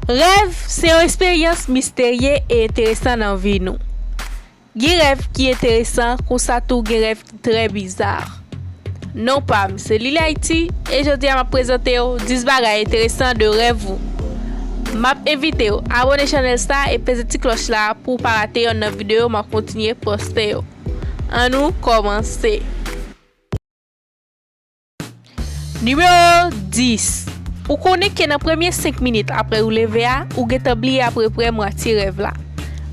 Rèv se yon esperyans misterye e enteresan nan vi nou. Gen rèv ki enteresan konsa tou gen rèv ki trè bizar. Non pam se Lili Haiti e jodi a map prezantew 10 bagay enteresan de rèv ou. Map envitew abone chanèl sa e peze ti klòch la pouw pa rate yonn nan videyo map kontinye poste yo. An nou kòmanse. Nimewo 10, Ou konnen ke nan premye 5 minit apre ou leve a, ou gentan bliye apreprè mwatye rèv la.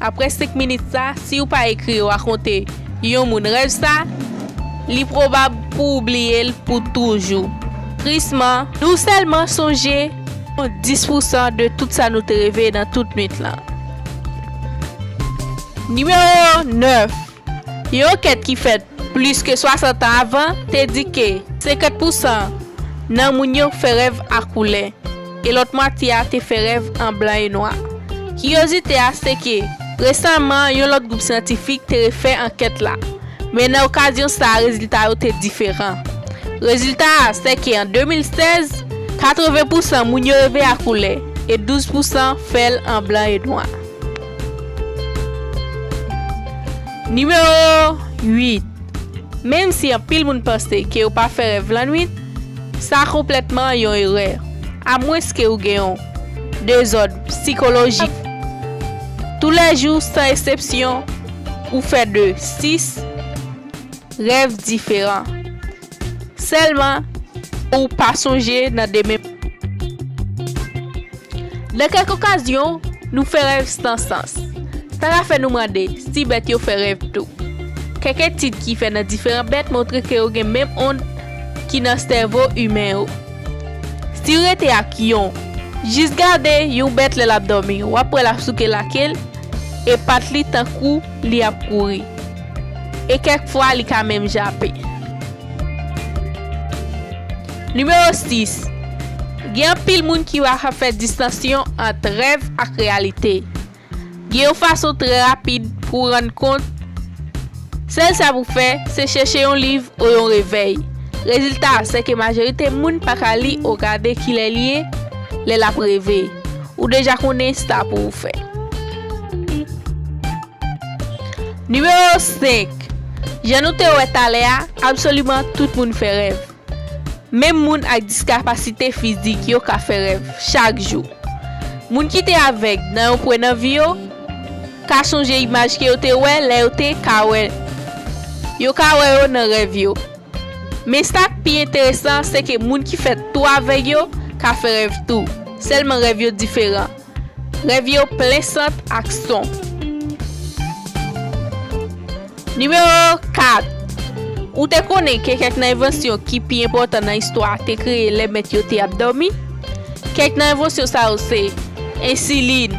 Apre 5 minit sa, si ou pa ekri yo rakonte yon moun rèv sa, li pwobab pou ou bliye l pou toujou. Trisman, nou sèlman sonje yon 10 pousan de tout sa nou te reve nan tout nwit lan. Nimewo 9, Yon ankèt ki fèt plis ke 60 an avan te di ke 50 pousan nan moun yo fè rèv a koulè, e lòt mwatye a te fè rèv an blan e nwa. Kiryozite a se ke resaman yon lòt gwoup syantifik te refè ankèt la, men nan okazyon sa a rezilta yo te diferan. Rezilta a se ke an 2016, 80 pousan moun yo reve a koulè e 12 pousan fè l an blan e nwa. Nimewo 8, Menm si anpil moun panse ke yo pa fè rèv lannwit, sa konplètman yon erè, amwenske ou gen yon dezòd psikolojik. Tou lè jou, san esepsyon, ou fè de 6 rèv diferan. Sèlman, ou pa sonje nan demen. Nan kèk okazyon, nou fè rèv san sans. Sa ka fè nou mande si bèt yo fè rèv tou. Kèk etid ki fèt nan diferan bèt montre ke yo gen menm ond ki nan sèvo imen yo. Si w rete ak yon, jis gade yon bèt lè l ap dòmi, w ap wè l ap souke lake l e pat li tankou li ap kouri. E kèk fwa li ka menm jape. Nimewo 6, Gen anpil moun ki pa ka fè distansyon ant rèv ak reyalite. Gen yon fason trè rapid pou w rann kont, sèl sa pou fè, se chèche yon liv ou yon revèy. Rezilta a, sèke majorite moun pa ka li ou gade kilè li ye lè l ap reve. Ou deja konnen sa pou ou fè. Nimewo 5, Jan nou te wè talè a, absoliman tout moun fè rèv. Menm moun ak diskapasite fizik yo ka fè rèv chak jou. Moun ki te avèg nan yon pwen nan vi yo ka sonje imaj ke yo te wè lè yo te ka wè. Yo ka wè yo nan rèv yo. Men sa k pi enteresan se ke moun ki fèt tou avèg yo ka fè rèv tou, sèlman rèv yo diferan. Rèv yo plen sant ak son. Nimewo 4, Ou te konnen ke kèk nan envansyon ki pi enpòtan nan istwa a te kreye lè mèt yo te ap dòmi? Kèk nan envansyon sa yo se, ensilin,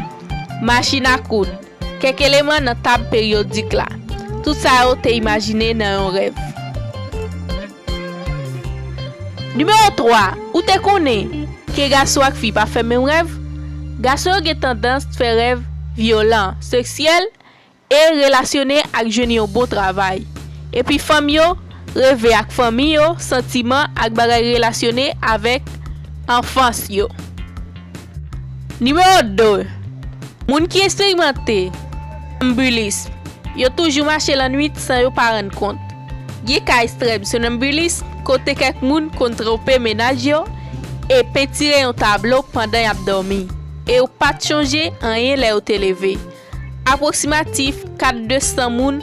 machin a koud, Kèk eleman nan tab peryodik la. Tout sa yo te imajine nan yon rèv. Nimewo 3, Ou te konnen ke gason ak fi pa fè menm rèv? Gason yo gen tandans fè rèv vyolan, seksyèl e relasyone ak jwenn yon bon travay. Epi fanm yo reve ak fanmi yo, santiman ak bagay relasyone avèk anfans yo. Nimewo 2, Moun ki esperimante Sonambulism yo toujou mache lannwit san yo pa rann kont. Gen ka estrèm sonambulism kote kèk moun konn twonpe mennaj yo e pentire yon tablo pandan y ap dòmi e yo pa t chonje anyen lè yo te leve. Apwoksimatif 4 de 100 moun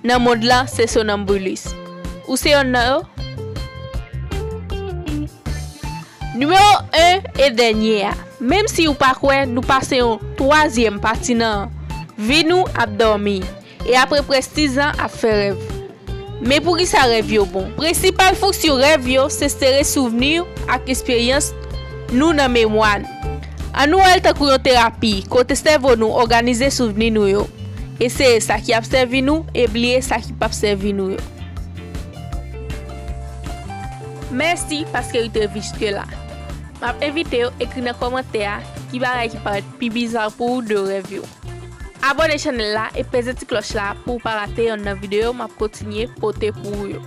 nan mond lan se sonanmbulis. Ou se yonn nan yo? Nimewo 1 e dènye a, menm si ou pa kwè nou pase yon twazyèm pati nan vi nou ap dòmi. E apre prestiz an ap fè rèv. Men poukisa rèv yo bon? Prensipal fonksyon rèv yo se sere souvni ak esperyans nou nan memwa n. An nou wè l tankou yon terapi kote sèvo nou òganize souvni nou yo, eseye sa ki ap sèvi nou e bliye sa ki pap sèvi nou yo. Mèsi paske u te viske la. Map envite w ekri nan kòmantè a ki bagay ki parèt pi bizar pou ou de rèv yo. Abone chanel la e peze ti kloch la pouw pa rate yonn nan video map kontinye pote pou ou yo.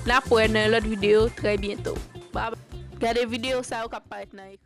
Nap wè nan yon lot video trè byento. Gade video sa yo kap paret nan ekran.